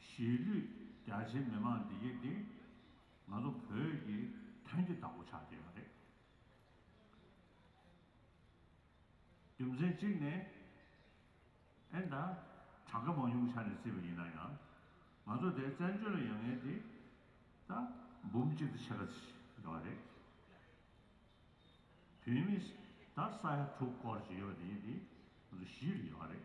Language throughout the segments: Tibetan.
གཞིས་ལུས་རྒྱ་ཆེའི་མི་མང་འདི་གེ་འདི། ང་ཚོ་བོད་ཀྱི་དོན་གྱི་བདག་པོ་ཆགས་ཀྱི་ཡོད་པ་རེད། རྒྱུ་མཚན་གཅིག་ནི། ཨེ་ད། གྲངས་ཀ་མང་ཉུང་ཆ་ནས་བརྩིས་པ་ཡིན་ན་ཡང། ང་ཚོ་དེ་བཙན་བྱོལ་ལ་ཡོད་ངེས་དེ། ད། འབུམ་གཅིག་དང་ཕྱེད་ཀ་ཚིག་ཡོད་པ་རེད། བོད་མི། ད་ས་ཡ་དྲུག་སྐོར་ཅིག་ཡོད་པ་དེ་གེ་འདི། ང་ཚོ་གཞིས་ལ་ཡོད་པ་རེད།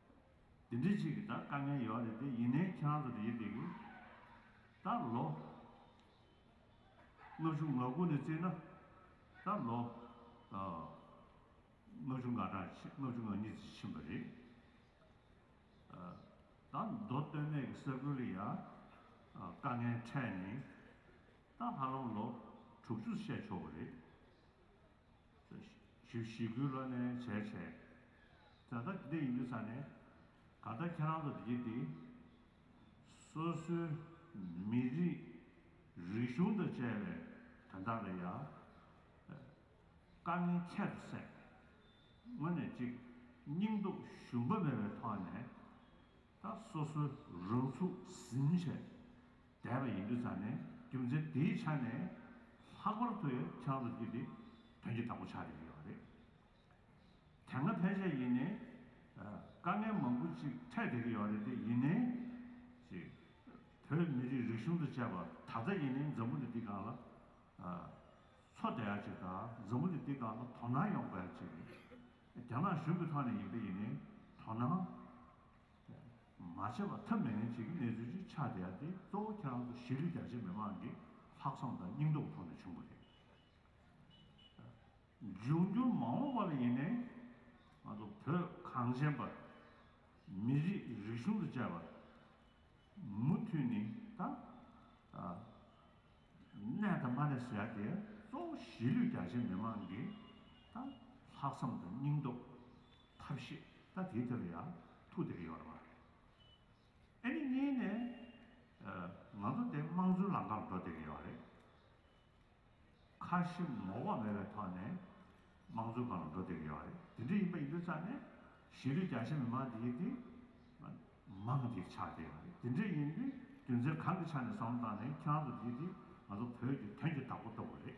དེ་འདྲི་གཅིག་གི་ད་དཀའ་ངལ་ཡོག་རེད་དེ་ཡིན་ནའི་ཁྱེད་རང་ཚོ་རེད་དེ་གི་ད་ལོ། སྔ་གཞུག་ང་དགུ་ནས་བརྩིས་ན་ད་ལོ། སྔ་གཞུག་ང་དྲག་ཕྱི་སྔ་གཞུག་ང་གཉིས་བརྩིས་ཕྱིན་པ་རེད། ད་མདོ་སྟོད་སྨད་ཀྱི་ས་ཁུལ་ལ་ཡ་དཀའ་ངལ་འཕྲད་ནས་ད་ཧ་ལམ་ལོ་དྲུག་ཅུ་བཤད་ཆོག་གི་རེད། ཞེས་ཞི་ཁུའི་ལོ་ནས་བྱས་བྱས། ད་ལྟ་འདི་འདྲ་ཡིན་རྒྱུ་ཚ་ནས། ད་ལྟ་ཁྱེད་རང་ཚོ་འདི་ཀྱི་འདི། སོ་སོའི་མི་རིགས་རིག་གཞུང་དང་བཅས་པའི་དོན་དག་ལ་ཡང། དཀའ་ངལ་ཁྱད་དུ་བསད། དངོས་ནས་ཅིག་སྙིང་སྟོབས་ཞུམ་པ་མེད་པའི་ཐོག་ནས། ད་སོ་སོའི་རང་ཚུགས་ཟིན་བྱས་བསྡད་པ་ཡིན་དུས་ཚར་ནས་རྒྱུ་མཚན་དེའི་ཆ་ནས་ལྷག་པར་དུ་ཡང་ཁྱེད་རང་ཚོར་རྒྱུ་དེ་དོན་གྱི་བདག་པོ་ཆགས་ཀྱི་ཡོད་པ་རེད། དེ་སྔ་ཕལ་ཆེར་ཡིན་ནའི་དཀའ་ངལ་མང་པོ་ཅིག་འཕྲད་བསྡད་ཀྱི་ཡོད་རེད་དེ་ཡིན་ནའི་ཅི། བོད་མི་རིགས་རིག་གཞུང་དང་བཅས་པ་ད་ལྟ་ཡིན་ནའི་འཛམ་བུ་ལི་འདི་གང་ལ་འཚོ་བསྡད་ཡག་ཅིག་དང་འཛམ་བུ་ལི་འདི་གང་ལ་དོ་སྣང་ཡོང་དགོས་ཡག་ཅིག་རེད། རྒྱ་ནག་གཞུང་གི་ཐོག་ནས་ཡིན་པ་ཡིན་ནའི་དོ་སྣང་མ་བྱས་པ་ཐབས་མེད་ངན་བྱེད་ཀྱི་གནས་ཚུལ་ཅིག་ཆགས་བསྡད་ཡ་དེ་གཙོ་བོ་ཁྱེད་རང་ཚོ་གཞིས་ལུས་རྒྱ་ཆེ་མི་མང་གི་ལྷག་བསམ་དང་སྙིང་སྟོབས་ཐོག་ནས་བྱུང་བ་རེད། འབྱུང་འགྱུར་མ་འོངས་པ་ལ་ཡིན་ནའི་ང་ཚོ་བོད་གངས་ཅན་པ། མི་རིགས་རིག་གཞུང་དུ་བཅས་པ། མུ་མཐུད་ནི་ད་གནས་དང་མ་གནས་སུ་ཡ་དེ་གཙོ་བོ་གཞིས་ལུས་རྒྱ་ཆེ་མི་མང་གི་ད་ལྷག་བསམ་དང་སྙིང་སྟོབས། ཐབས་ཤེས་ད་དེའི་ཐད་ལ་ཡང་ཐུགས་དེ་ག་ཡོད་རེད་བ། ཨ་ནི་གཉིས་ནས་ང་ཚོ་དེ་དམངས་གཙོའི་ལམ་ཁར་འགྲོ་དེ་ག་ཡོད་རེད། ཁ་ཞེ་ངོ་བ་མེད་པའི་ཐོག་ནས་དམངས་གཙོའི་སྒང་ལ་འགྲོ་དེ་ག་ཡོད་རེད། དེ་འདྲ་ཡིན་པ་ཡིན་དུས་ཙང་ནས་གཞིས་ལུས་རྒྱ་ཆེ་མི་མང་དེ་ཡིན་དེ་མང་དེ་ཆགས་དེ་ག་རེད། དེ་འདྲ་ཡིན་དུས་དོན་ཚན་གང་གི་ཆ་ནས་བསམ་བློ་བཏང་ནས་ཁྱེད་རང་ཚོ་དེ་དེ་ང་ཚོ་བོད་ཀྱི་དོན་གྱི་བདག་པོ་ལྟ་བུ་རེད།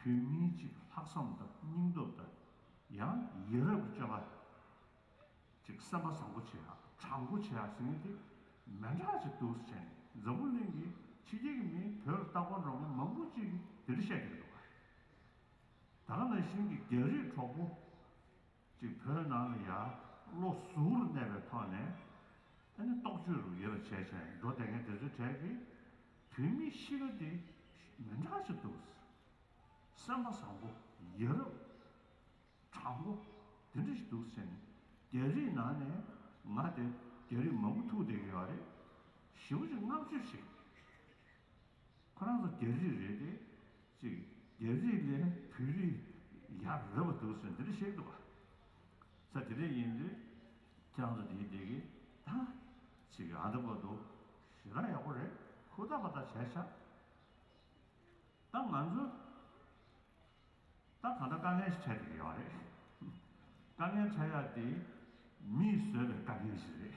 བོད་མི་གཅིག་ལྷག་བསམ་དང་སྙིང་སྟོབས་དང་ཡང་ཡི་རབས་ཀྱི་སྐྱེ་བ་གཅིག་བསམ་པ་བཟང་པོ་བྱས་ཨ་དྲང་པོ་བྱས་ཨ་ཟེར་མི་དེ་མན་གྲགས་ཅིག་འདུག་བྱས་ནས་འཛམ་བུ་གླིང་གི་ཕྱི་རྒྱལ་གྱི་མི་བོད་ལ་ལྟ་སྐོར་འགྲོ་མཁན་མང་པོ་ཅིག་གིས་དེ་འདྲ་བཤད་ཀྱི་འདུག་ག་རེད། ད་ག་ན་བཞིན་གྱི་རྒྱ་རིགས་གྲོགས་པོ་ཀྱི་བོད་ནང་ལ་ཡར་བློ་གཟུ་བོར་གནས་པའི་ཐོག་ནས་ཨ་ནི་རྟོག་དཔྱོད་རུ་ཡོད་པ་བྱས་བྱས་འགྲོ་བསྡད་མཁན་དེ་ཚོའི་གྲས་ཀྱི་བོད་མིའི་གཤིས་ཀ་དེ་མི་འདྲ་ཞིག་འདུག་སེམས་པ་བཟང་པོ་ཡ་རབས་དྲང་པོ་དེ་འདྲ་ཞིག་འདུག་ཟེར་ནས་རྒྱ་རིགས་ནང་ནས་ང་དེ་རྒྱ་རིགས་མང་པོ་ཐུག་བསྡད་ཀྱི་ཡོད་རེད་ཞེ་པོ་ཅིག་བསྔགས་བརྗོད་བྱེད་ཁོ་རང་ཚོ་རྒྱ་རིགས་རེད་དེ་ཅིག། རྒྱལ་རིགས་ལས་བོད་རིགས་ཡག་རེད་པ་འདུག་ཟེར་འདི་རིགས་ཤེས་འདུག་ག་ས་དེ་རིགས་ཡིན་དུས་ཀྱང་ཚོ་དེའི་དེ་གི་ད་ཅིག་ཨ་འདི་པོ་འདུག་ཞེ་དྲག་ཡག་པོ་རེད་ཁུ་ད་པ་ད་བྱས་ཤག་ད་ང་ཚོ་ད་གང་འདྲ་དཀའ་ངལ་ཞིག་འཕྲད་དགོས་ཀྱི་ཡོད་རེད་དཀའ་ངལ་འཕྲད་ཡག་དེ་མིས་བཟོས་པའི་དཀའ་ངལ་ཞིག་རེད་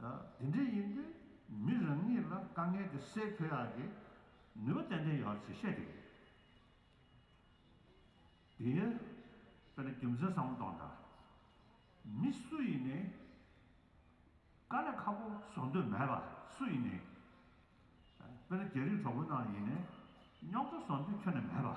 དེ་འདྲ་ཡིན་དུས་མི་རང་ཉིད་ལ་དཀའ་ངལ་དེ་སེལ་ཕོད་ཡག་གི། ནུས་པ་ཏན་ཏན་ཡོད་ཚེ་བཤད་ཀྱི་རེད། དེ་ཡིན་དཔེར་ན་རྒྱུ་མཚན་བཟང་བོ་གཏོང་དང། མི་སུ་ཡིན་ནས་དཀའ་ལས་ཁག་པོ་བཟོ་འདོད་མེད་པ་སུ་ཡིན་ནས། དཔེར་ན་རྒྱ་རིགས་གྲོགས་པོ་རྣམས་ཡིན་ནས་རྙོག་དྲ་བཟོ་འདོད་ཁྱོན་ནས་མེད་པ།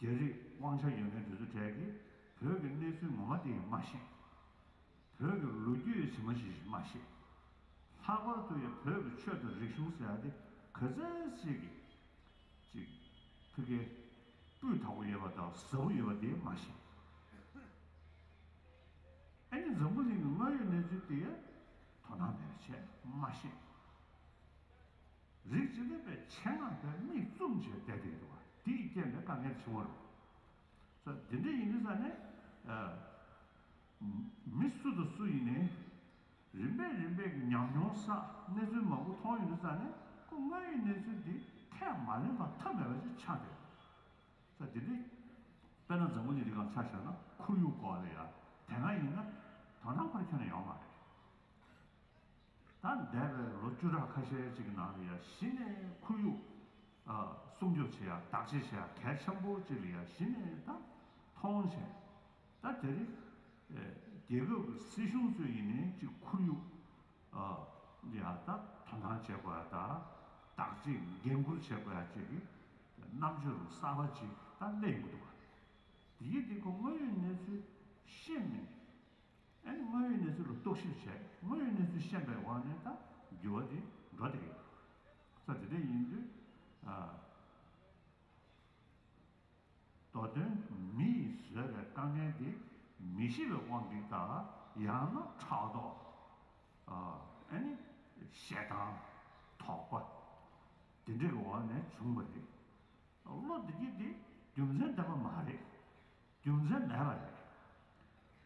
རྒྱ་རིགས་དབང་ཆ་ཡོད་མཁན་དེ་ཚོ་གྲས་ཀྱིས་བོད་ཀྱི་གནས་ཚུལ་ངོ་མ་དེ་ཡིས་མ་ཤེས། བོད་ཀྱི་ལོ་རྒྱུས་ཡིས་ཚིག་མ་ཤེས་ཤིང་མ་ཤེས། ལྷག་པར་དུ་ཡང་བོད་ཀྱི་ཆོས་དང་རིག་གཞུང་ཟེར་ཡ་དེ་ག་ཚད་ཟིག་གི། ཅིག། ཕི་གེ། སྤུས་དག་པོ་ཡོད་པ་དང་ཟབ་པོ་ཡོད་པ་དེ་མ་ཤེས། ཨེ་ནི་འཛམ་བུ་གླིང་གི་དངོས་ཡོད་གནས་ཚུལ་དེ་ཡང་དོ་སྣང་མེད་པའི་ཆེད་མ་ཤེས། རིགས་ཀྱི་ལེགས་པའི་ཆེད་སྔགས་བཟླས་དམིགས་བཙུམ་བྱས་བལྟས་ཏེ་འགྱུར་བ་དེ་ཡི་རྐྱེན་ལས་དཀའ་ངལ་འབྱུང་བར་རོ། ས་དེ་འདྲའི་ཡིན་ས་ནི། མི་སུ་དང་སུ་ཡིན་ནས། རིམ་པས་རིམ་པས་ཉམས་མྱོང་ས་གནས་ཚུལ་མང་པོ་མཐོང་ཡོད་ས་ནི་སྐུ་དངོས་ཡོད་གནས་ཚུལ་དེ་ཁས་མ་ལེན་པ་ཐབས་མེད་པ་ཞིག་ཆགས་ཏེ། ས་དེ་འདྲའི། དཔེར་ན་འཛམ་བུ་གླིང་འདི་གང་ཆགས་ཤར་ན་ཁོར་ཡུག་སྐོར་ལ་ཡང་དེ་སྔ་ཡིན་ན་དོན་དམ་པར་ཁྱོན་ཡོང་མ་རེད། ད་འདས་པའི་ལོ་བཅུ་ཕྲག་ཁ་ཤས་ཅིག་གི་ནང་ལ་ཡང་གཞི་ནས་ཁོར་ཡུག་སྲུང་སྐྱོབ་བྱེད་ཡག་བདག་གཅེས་བྱེད་ཡག་གལ་ཆེན་པོ་ཅིག་ལ་ཡང་གཞི་ནས་ད་མཐོང་བྱས། ད་དེ་རིང་རྒྱལ་ཁབ་ཀྱི་སྲིད་གཞུང་ཚོས་ཡིན་ནའི་ཅིག་ཁོར་ཡུག་ལ་ཡང་ད་དོ་སྣང་བྱེད་དགོས་ཡག་ད་བདག་གཅེས་འགན་འཁུར་བྱེད་དགོས་ཡག་ཅིག་གི་རྣམ་འབྱོར་གསར་པ་ཅིག་ད་སླེབས་ཡོང་གི་འདུག་དེ་གིས་དེ་ཁོ་དངོས་ཡོད་གནས་ཚུལ་ཤེས་མིན། དངོས་ཡོད་གནས་ཚུལ་ལ་རྟོག་ཞིབ་བྱས་དངོས་ཡོད་གནས་ཚུལ་ཤེས་པའི་དབང་ནས་ད་འགྱུར་བ་དེ་འགྲོ་དེ་ཡོད། ས་དེ་འདྲ་ཡིན་དུས། མདོ་དོན་མི་ཡིས་བཟོས་པའི་དཀའ་ངལ་དེ་མི་ཤེས་པའི་དབང་གིས་དང་ཡང་ན་ཕྲག་དོག་ཞེ་སྡང་དོགས་པ་དེ་འདྲ་གི་འོག་ནས་བྱུང་བ་རེད། བློ་བདེ་སྐྱིད་དེ་རྒྱུ་མཚན་ལྡན་པ་མ་རེད། རྒྱུ་མཚན་མེད་པ་རེད།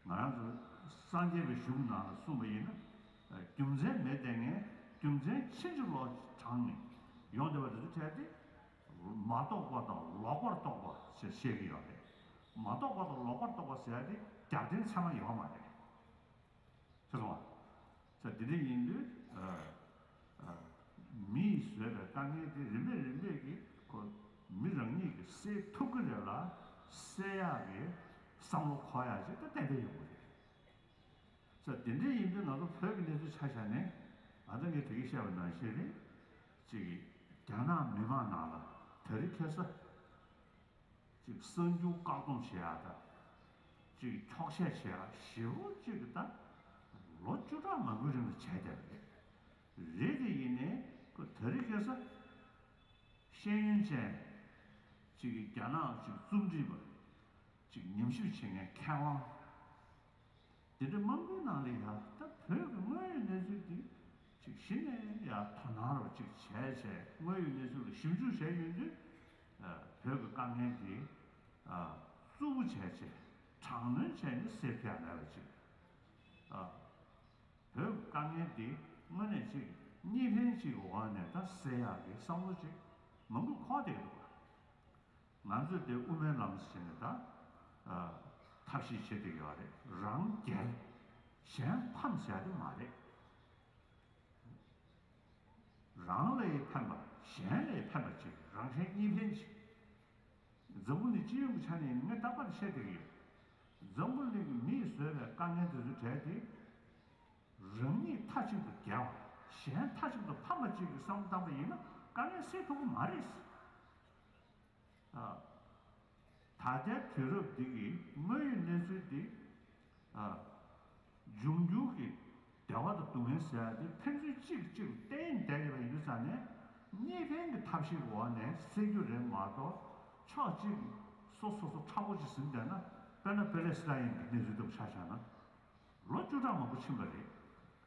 ང་རང་ཚོ་སངས་རྒྱས་པའི་གཞུང་ནང་ལ་གསུངས་པ་ཡིན་ན། རྒྱུ་མཚན་མེད་ལྟས་ངན་རྒྱུ་མཚན་ཕྱིན་ཅི་ལོག་དྲངས་ནས་ཡོང་བསྡད་པ་རེད་འདུག་གལ་ཏེ། མ་རྟོགས་པ་དང་ལོག་པར་རྟོགས་པ་ཞེས་བཤད་ཀྱི་ཡོད་རེད། མ་རྟོགས་པ་དང་ལོག་པར་རྟོགས་པ་ཟེར་ཡ་དེ་རྒྱབ་རྟེན་ཚད་མ་ཡོད་མ་རེད། ཤེས་སོང་ངམ། ས་དེ་འདྲ་ཡིན་དུས། མི་ཡིས་བཟོས་པའི་དཀའ་ངལ་དེ་རིམ་པས་རིམ་པས་ཀྱིས་ཁོ། མི་རང་ཉིད་ཀྱིས་སེལ་ཐུབ་ཀྱི་རེད་ལ། སེལ་ཡག་གི་བསམ་བློ་འཁོར་ཡག་ཅིག་ཏུ་གཏན་འཁེལ་ཡོང་གི་རེད། ས་དེ་འདྲ་ཡིན་དུས་ང་ཚོ་བོད་ཀྱི་གནས་ཚུལ་ཆ་ཤས་ནི། ང་ཚོས་ངས་དེ་གའི་བཤད་པ་ནང་བཞིན་རེད། གཅིག་གིས་རྒྱ་ནག་མི་མང་ནང་ལ་ད་རེས་ཁེ་ས། གཅིག་གསར་འགྱུར་བཀག་སྡོམ་བྱེད་ཡག་དང། གཅིག་འཁྱོག་བཤད་བྱེད་ཡག་ཞེ་བོ་གཅིག་གི་དང། ལོ་བཅུ་ཕྲག་མང་པོའི་རིང་དུ་བྱས་བསྡད་པ་རེད། རེད་དེ་ཡིན་ནའི་ཁོས་ད་རེས་སྐད་ས། ཤེས་ཡོན་ཅན། གཅིག་གིས་རྒྱ་ནག་གཅིག་རྩོམ་སྒྲིག་པ། གཅིག་ཉམས་ཞིབ་བྱེད་མཁན་མཁས་དབང། དེ་འདྲ་མང་པོའི་ནང་ལས་ཡག་ད་བོད་ཀྱི་དངོས་ཡོད་གནས་ཚུལ་དེ་གཅིག་གཞི་ནས་ཡག་དོ་སྣང་རོགས་གཅིག་བྱས་བྱས་དངོས་ཡོད་གནས་ཚུལ་ལ་ཞིབ་འཇུག་བྱས་ཡོད་དུས་བོད་ཀྱི་དཀའ་ངལ་འདི་གཙོ་བོ་བྱས་ཆེད་དྲག་གནོན་བྱས་ནས་སེལ་ཐབས་མེད་པ་ཅིག་བོད་ཀྱི་དཀའ་ངལ་འདི་དངོས་གནས་གཅིག་གཉིས་ལྷན་ཅིག་གི་འོག་ནས་ད་སེལ་ཡག་གི་བསམ་བློ་ཅིག་མང་པོ་འཁོར་བསྡད་འདུག་ང་ཚོས་དེ་དབུ་མའི་ལམ་ཟེར་ནས་ད་ཐབས་ཤེས་བྱེད་འདོད་ཡོད་རེད་རང་རྒྱལ་གཞན་ཕམ་ཟེར་ཡག་གི་མ་རེད། རང་ལས་ཕན་པ་གཞན་ལས་ཕན་པ་ཅིག་རང་གཞན་གཉིས་ཕན་ཅིག། འཛམ་བུ་ནི་སྤྱི་ཡོངས་ཀྱི་ཆ་ནས་ངས་རྟག་པར་བཤད་བསྡད་ཀྱི་ཡོད། འཛམ་བུ་གླིང་གི་མིས་བཟོས་པའི་དཀའ་ངལ་དེ་ཚོའི་གྲས་དེ། རང་ཉིད་མཐའ་གཅིག་ཏུ་རྒྱལ་བ་གཞན་མཐའ་གཅིག་ཏུ་ཕམ་པ་གཅིག་གི་བསམ་བློ་བཏང་པ་ཡིན་ན་དཀའ་ངལ་སེལ་ཐུབ་ཀྱི་མ་རེད། ད་ལྟའི་དུས་རབས་འདི་གི་དངོས་ཡོད་གནས་ཚུལ་འདི། འབྱུང་འགྱུར་གྱི་བདེ་བ་དང་སྡུག་བསྔལ་ཟེར་བ་འདི་ཕན་ཚུན་གཅིག་གིས་གཅིག་ལ་བརྟེན་བསྡད་ཡོད་པ་ཡིན་ས་ནས། གཉིས་ཕན་གྱི་ཐབས་ཤེས་འོག་ནས་སེལ་རྒྱུ་རེད་མ་གཏོགས། ཕྱོགས་གཅིག་གིས་སོ་སོ་སོ་ཁྲ་བོ་གཅིག་ཟིན་བསྡད་ན། དཔེར་ན་པེ་ལེ་སི་ཏཱ་ཡན་གྱི་གནས་ཚུལ་ལྟ་བུ་ཆགས་བཞག་ན། ལོ་བཅུ་ཕྲག་མང་པོ་ཕྱིན་པ་རེད།